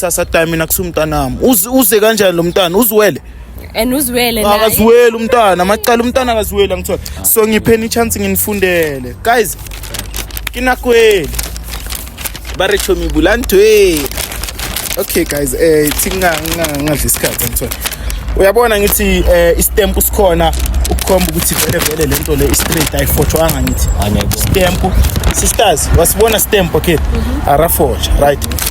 kusasa time mina kusumntanami uze uze kanjani lo mntana uziwele and uziwele naye akaziweli umntana amacala umntana akaziweli angithola so ngipheni ichance nginifundele guys kinakweli ba re chomi bulantwe okay guys eh thinga ngadli isikhathi angithola uyabona ngithi eh istamp sikhona ukukhomba ukuthi vele vele lento le istraight ayifotshwanga ngithi stamp sisters wasibona stamp okay arafotsha right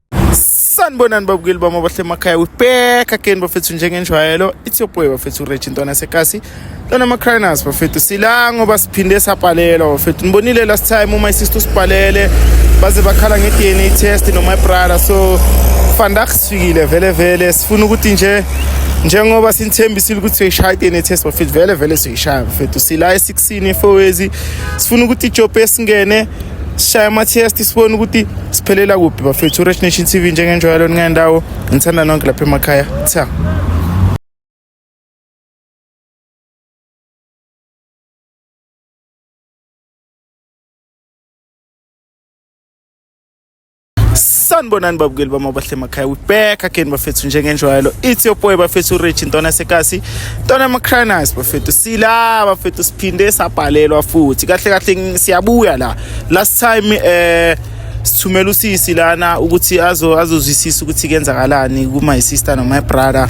sanibonani babukeli bami abahle emakhaya we back again bafethu njengenjwayelo it's your boy bafethu ureji ntwana sekasi lona ama-crinas bafethu sila ngoba siphinde sabhalelwa bafethu nibonile last time uma isister usibhalele baze bakhala nge-dna test noma ibrada so fandak sifikile vele vele sifuna ukuthi nje njengoba sinithembisile ukuthi siyoyishaya i-dna test bafethu vele vele siyoyishaya bafethu sila e-six Sine fowezi sifuna ukuthi ijobe esingene sishaya ama-test sibone ukuthi siphelela kuphi bafethu uresh nation t v njengenjwayelo ningendawo ngithanda nonke lapha emakhaya tha sanibonani babukeli bami abahle emakhaya we back again bafethu njengenjwayelo it's your boy bafethu urich ntwana sekasi ntwana macranas bafethu sila bafethu siphinde sabhalelwa futhi kahle kahle siyabuya la last time eh sithumela usisi lana ukuthi azozwisisa ukuthi kenzakalani kuma sister no my brother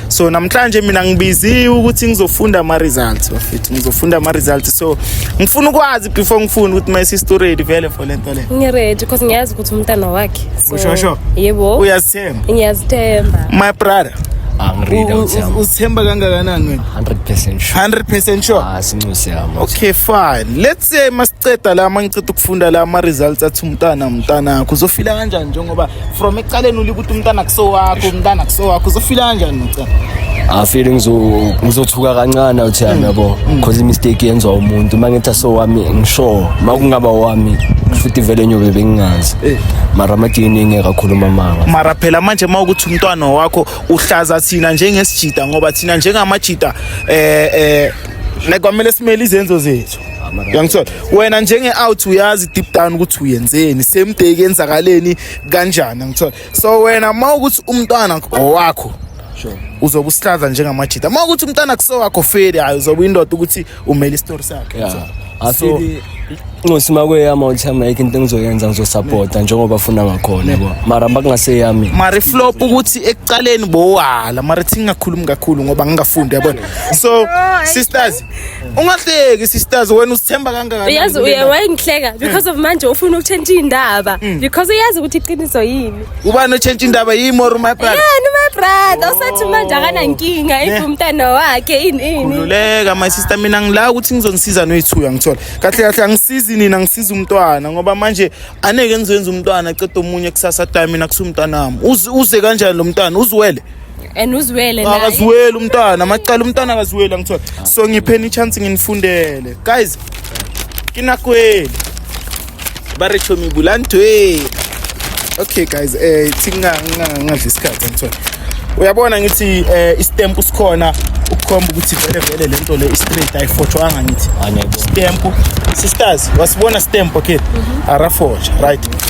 so namhlanje mina ngibiziwe ukuthi ngizofunda ama-results bafethu ngizofunda ama-results so ngifuna ukwazi before ngifunda ukuthi my sister ready vele for le nto le ngiready because ngiyazi ukuthi umntana wakhe So, Ushosho? yebo uyazithemba ngiyazithemba my brother angiread out yami uzithemba kangakanani wena 100% sure 100 percent sure ah sinxusi yami okay fine let's say masiceda la mangichitha ukufunda la ama-results athi umntana umntanakho uzofila kanjani njengoba from ekuqaleni ulike ukuthi umntana kusowakho umntana kusowakho uzofila kanjani ngicela afile ngizothuka kancane uthi yami yabo because imistake yenziwa umuntu uma ngithi asowami ngisho uma kungaba wami futhi vele nyobe bengingazi eh. mara amadini engeke akhuluma manga mara phela manje uma ukuthi umntwana wakho uhlaza thina njengesijida ngoba thina njengamajida eh eh like kwamele simele izenzo zethu uyangithola wena njenge-out uyazi deep down ukuthi uyenzeni same day kenzakaleni kanjani angithola so wena uma ukuthi umntwana owakho uzobe usihlaza njengamajita uma ukuthi umntwana kusowakho feli hayi uzobe indoda ukuthi umele isitori sakhe so ncosi makweyama uthama yikho into engizoyenza ngizosapota njengoba funa ngakhona yabo mara makungaseyami mara iflop ukuthi ekuqaleni bowala mara thingakhulumi kakhulu ngoba ngingafundi yabona so sisters ungahleki sisters wena usithemba kangakanani uyazi uye wayengihleka because of manje ufuna ukutshentsha indaba mm. because uyazi ukuthi iqiniso yini ubani otshentsha indaba yimi or my brother yeah no my brother usathi oh. manje akanankinga if umntana wakhe ini ini khululeka my sister mina ngila ukuthi ngizonisiza noyithuya ngithola kahle kahle angisizi nina ngisiza umntwana ngoba manje aneke ngizoyenza umntwana cede omunye kusasa time mina kusumntana wami uze kanjani lo mntwana uziwele and uzwele naye akaziweli umntana amacala umntana akaziweli angithola so ngipheni ichance nginifundele guys kinakweli ba re chomi bulantwe okay guys eh thinga ngadla isikhathi angithola uyabona ngithi eh istamp sikhona ukukhomba ukuthi vele vele lento le straight ayifotshwanga ngithi stamp sisters wasibona stamp okay arafotsha right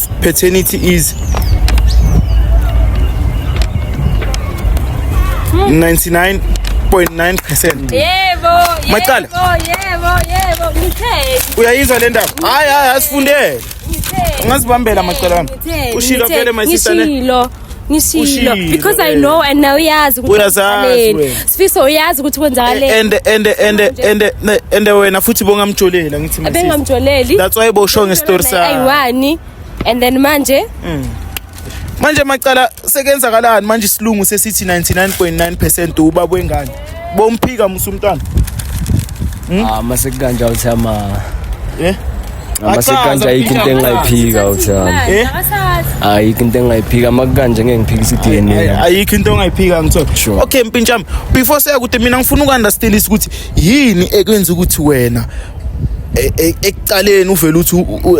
Paternity is 99.9%. Yebo, Macala. Yebo, yebo, ngitheni. Uyayizwa le ndaba? Hayi hayi asifundele. Ngitheni. Ungazibambela macala wami. Ushilo vele my sister ne. Ngishilo. ngishilo Ushilo, because i eh. know and now uyazi ukuthi Uyazazi kwenzakaleni. wena. Eh, sifiso uyazi ukuthi kwenzakaleni ende ende ende ende ne- ende wena futhi bongamjolela ngithi mina sisi. bengamjoleli that's why bosho ngestory sakho ayiwani and then manje manje macala sekenzakalani manje isilungu sesithi 99.9% ubaba wengane bomphika musa umntwana hmm? ah mase kanje awuthi ama eh mase kanje ayikho into engayiphika awuthi eh ayikho into engayiphika makukanje ngeke ngiphike isidna ayikho into ongayiphika ngithola okay mpintshami before saya kude mina ngifuna ukunderstandisa ukuthi yini ekwenza ukuthi wena E, e, ekuqaleni uvele uthi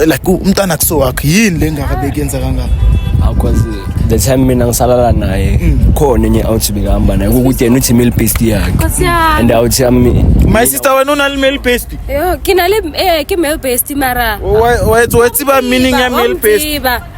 like umntana kuso wakhe yini le ngaka bekuyenza kangaka because the time mina ngisalala naye mm. khona enye awuthi bekahamba naye kukuthi yena uthi male paste yakhe and awuthi yami my sister wena unali male paste yo kinale eh ki male paste mara wayethi wayethi ba meaning ya male paste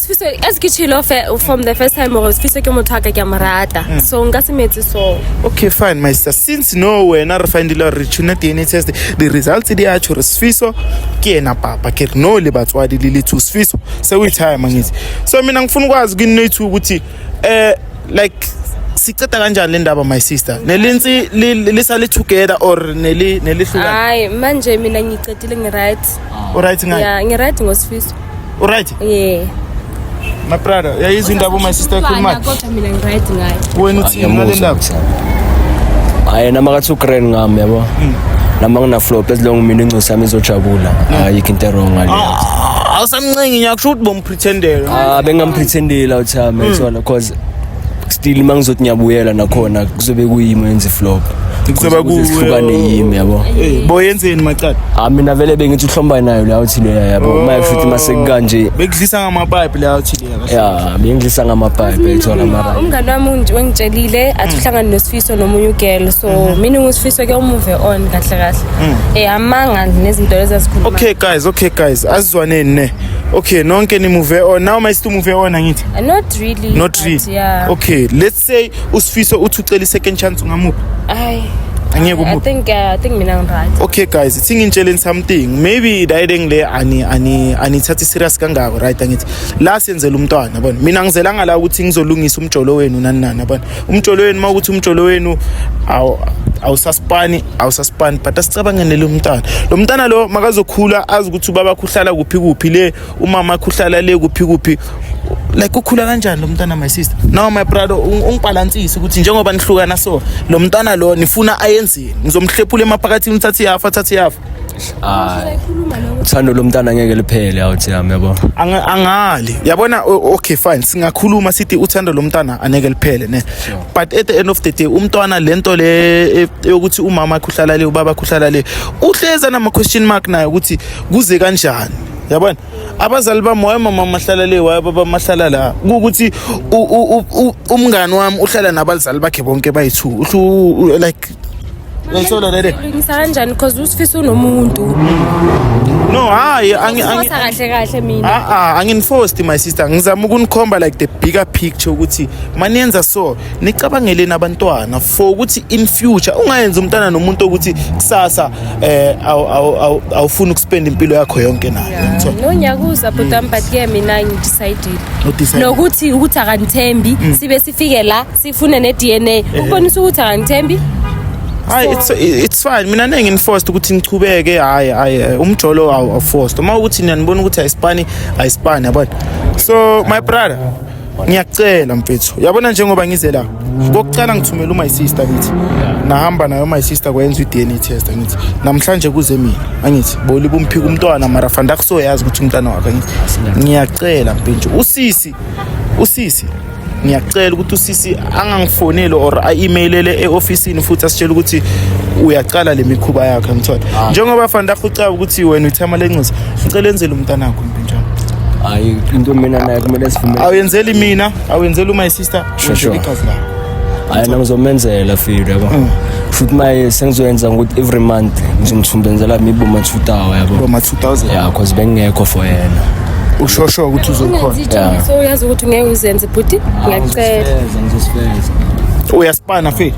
Sfiso, as ke chilo fe- from the first time gore Sfiso ke motho a ka ke a mo rata Mm. so nka se metse so okay fine my sister since no wena re findile gore re tshune dna test di-results di a tsho re sfiso ke ena papa ke re no le batswadi le le two sfiso se o ithaya mangitsi so mina ngifuna ukwazi kini noyi-two ukuthi um like siceda kanjani le ndaba my sister nelintsi li- li- lisale together or neli- nelihlukana hayi manje mina ngicedile ngi-right o-right ngayo ya ngi-right ngosfiso Uright? Yeah. My brother, yayizwa indaba my sister ekhuluma. Kodwa mina ngiright ngayo. Wena uthini ngale ndaba? Hayi nama ka 2 grand ngami yabo. Hmm. Nama ngina flop ezilonga mina ingcosi yami izojabula. Hmm. Hayi into wrong ngale. Ah, awusamncengi nyakusho ukuthi bompretendela. Ah bengampretendela uthami hmm. uthona cause still uma ngizothi ngiyabuyela nakhona kuzobe kuyimi wenze flop Kuzoba ku- sihlukane yimi yabo Eh, boyenzeni macala ah mina vele bengithi uhlomba nayo la uthi leya yabo uma efuthi masekukanje bekudlisa ngamapipe la uthile kahle ya bengidlisa ngamapipe ethola mara umngane wami ungi- wengitshelile athi uhlangane nosifiso nomunye ugirl so mina ngusifiso ke umuve on kahle kahle eh amanga nezinto lezi azikhuluma okay guys okay guys asizwaneni ne okay nonke nimuve on now mayisitumuve on angithi not Not really. Not really. But, yeah. Okay, let's say usifiso uthi ucela i-second chance ungamuphi? Ay. Angeke umuphi? I think uh, I think mina ngiright. Okay guys, ithi ngintshelen something. Maybe dayideng le ani ani anithathi serious kangako right angithi. La senzela umntwana yabona. Mina ngizela ngala ukuthi ngizolungisa umjolo wenu nani nani yabona. Umjolo wenu mawukuthi umjolo wenu awu awusaspani awusaspani but asicabangene lo mntana. Lo mntana lo makazokhula azi ukuthi ubaba kuhlala kuphi kuphi le umama akhe uhlala le kuphi kuphi like ukhula kanjani lo mntwana my sister now my brother ungibhalansise ukuthi njengoba nihlukana so lo mntwana lo nifuna ayenzeni ngizomhlephula emaphakathini uthathe yafa athathe yafa hayi uthando lomntana ngeke liphele awuthi yami yabo angali yabona okay fine singakhuluma sithi uthando lomntana aneke liphele ne but at the end of the day umntwana lento le e, yokuthi umama akhuhlala le ubaba akhuhlala le uhleza nama question mark naye ukuthi kuze kanjani yabona abazali bami wayemama mahlala le wayebaba mahlala la kuwukuthi umngani wami uhlala nabazali bakhe bonke bayi-two uhlu like Ngiyithola lele. Ngisa kanjani because usifisa unomuntu. No, hayi angi angi kahle kahle mina. Ah ah, anginforced my sister. Ngizama ukunikhomba like the bigger picture ukuthi maniyenza so nicabangeleni abantwana for ukuthi in future ungayenza umntana nomuntu ukuthi kusasa eh awufuni ukuspend impilo yakho yonke naye nonyaka uza bhuti wami but ke mina ngidecidile nokuthi ukuthi akangithembi mm. sibe sifike la sifune ne-dna eh. ukubonisa ukuthi akangithembi hayi it's it's fine mina ningi enforced ukuthi nichubeke hayi hayi eh, umjolo awuforced uma ukuthi niyanibona ukuthi ayisipani ayisipani yabona so my brother ngiyacela mfethu yabona njengoba ngize la kokucala ngithumela umy sister ngithi nahamba nayo umy sister kwayenza i-dna test angithi namhlanje kuze mina angithi boli bumphika umntwana mara fanda akusoyazi ukuthi umntwana wakhe angithi ngiyacela mpenje usisi usisi ngiyacela ukuthi usisi angangifoneli or a-emailele e-ofisini futhi asitshela ukuthi uyaqala le mikhuba yakhe ngithola ah. njengoba fanele ahucaba ukuthi wena uthama lenxisa ngicela enzele umntanakho hayi into mina naye kumele sivume awuyenzeli mina awuyenzeli my sister Sure, sure. igazi lakho hayi nami ngizomenzela filo yabo Mm. futhi maye sengizoyenza ngokuthi every month ngizomthumbenzela mibo mathutawa yabo boma 2000 ya cause bengingekho for yena ushosho ukuthi uzokhona ungenzi iqiniso uyazi ukuthi ngeke uzenze bhuti ngiyacela ngizosifeza uyasipana fethu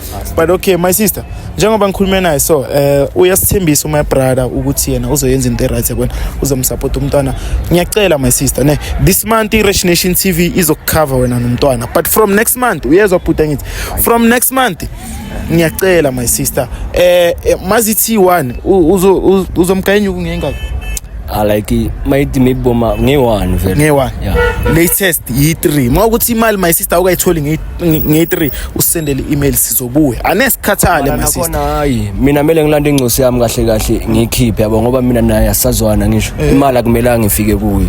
but okay my sister njengoba ngikhulume naye so eh uh, uyasithembisa my brother ukuthi yena uzoyenza into right yakwena uzomsupport umntwana ngiyacela my sister ne this month i-Rich Nation TV izokucover wena nomntwana but from next month uyezwa bhuti ngithi from next month ngiyacela my sister eh, eh mazithi one uzomgayenya ukungengaka ah, like mayithi maybe boma nge-one vele nge-one yeah. latest yi-three uma ukuthi imali my sister awukayitholi nge-three nge-3 usendele i-email sizobuya anesikhathale my sister hayi mina mele ngilande ingcosi yami kahle kahle ngiyikhiphe yabo ngoba mina naye asazwana ngisho eh. imali akumelanga ngifike kuye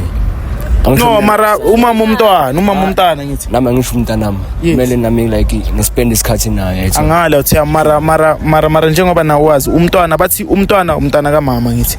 no mara umama umntwana umama umntana ngithi nami angisho umntanami kumele nami like ngispend isikhathi naye angale uthi mara mara mara mara njengoba nawazi umntwana bathi umntwana umntana kamama ngithi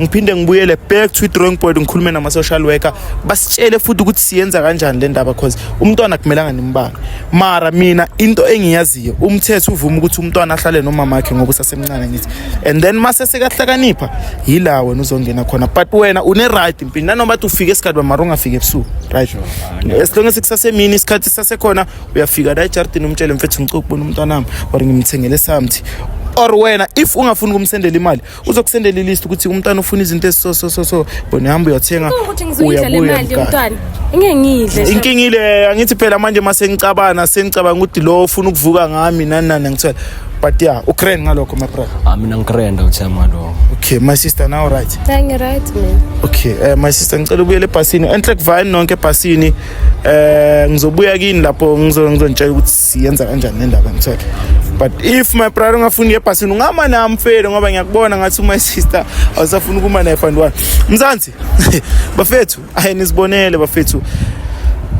ngiphinde ngibuyele back to drawing board ngikhulume nama-social worker basitshele futhi ukuthi siyenza kanjani le ndaba cause umntwana akumelanga nimbange mara mina into engiyaziyo umthetho uvuma ukuthi umntwana ahlale nomama wakhe ngoba usasemncane ngithi and then mase sekahlakanipha yila wena uzongena khona but wena une-right mpini nanoma ti ufike esikhathi bamara ungafiki ebusuku right as long as kusasemini isikhathi sisasekhona uyafika la ejardini umtshele mfethu ngicokubona umntwanami or ngimthengele something or wena if ungafuni ukumsendela imali uzokusendela ilist ukuthi umntana ufuna izinto eziso so so so bona hamba uyothenga uyabuya mntana ngeke ngidle inkinga ile angithi phela manje mase ngicabana sengicabanga ukuthi lo ufuna ukuvuka ngami nani nani ngithola but yeah ukrend ngalokho my brother ah mina ngikrenda uthe malo okay my sister now right ngi right mina okay uh, my sister ngicela ubuyele ebhasini enhle kuvayini nonke ebhasini eh uh, ngizobuya kini lapho ngizonitshela ukuthi siyenza kanjani le ndaba ngithola but if my brother ungafuni yebhasini ungama nami mfethu ngoba ngiyakubona ngathi my sister awusafuni ukuma naye fund one mzansi bafethu ayi nisibonele bafethu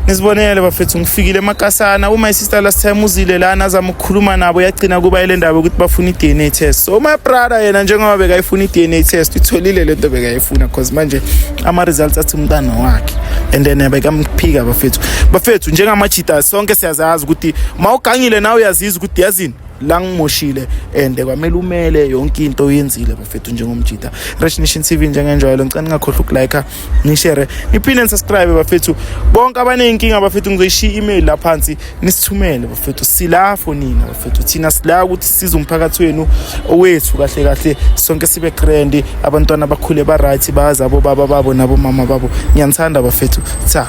nisibonele bafethu ngifikile emakasana uma isister last time uzile lana azama ukukhuluma nabo yagcina kuba ile ndaba ukuthi bafuna i-dna test so my brother yena njengoba bekayifuna i-dna test itholile le nto bekayifuna because manje ama-results athi umntana wakhe and then eh, bekamphika bafethu bafethu njengamajita sonke siyazazi ukuthi uma ugangile nawe uyaziza ukuthi yazini la ngimoshile and kwamele umele yonke into oyenzile bafethu njengomjita Rich Nation TV njengenjwayelo ngicela ningakhohlwa ukulike nishare niphinde nisubscribe bafethu bonke abaneyinkinga bafethu ngizoyishiya email lapha phansi nisithumele bafethu sila for nina bafethu thina sila ukuthi size umphakathi wenu owethu kahle kahle sonke sibe grand abantwana bakhule ba right bazi abo baba babo nabo mama babo ngiyanithanda bafethu cha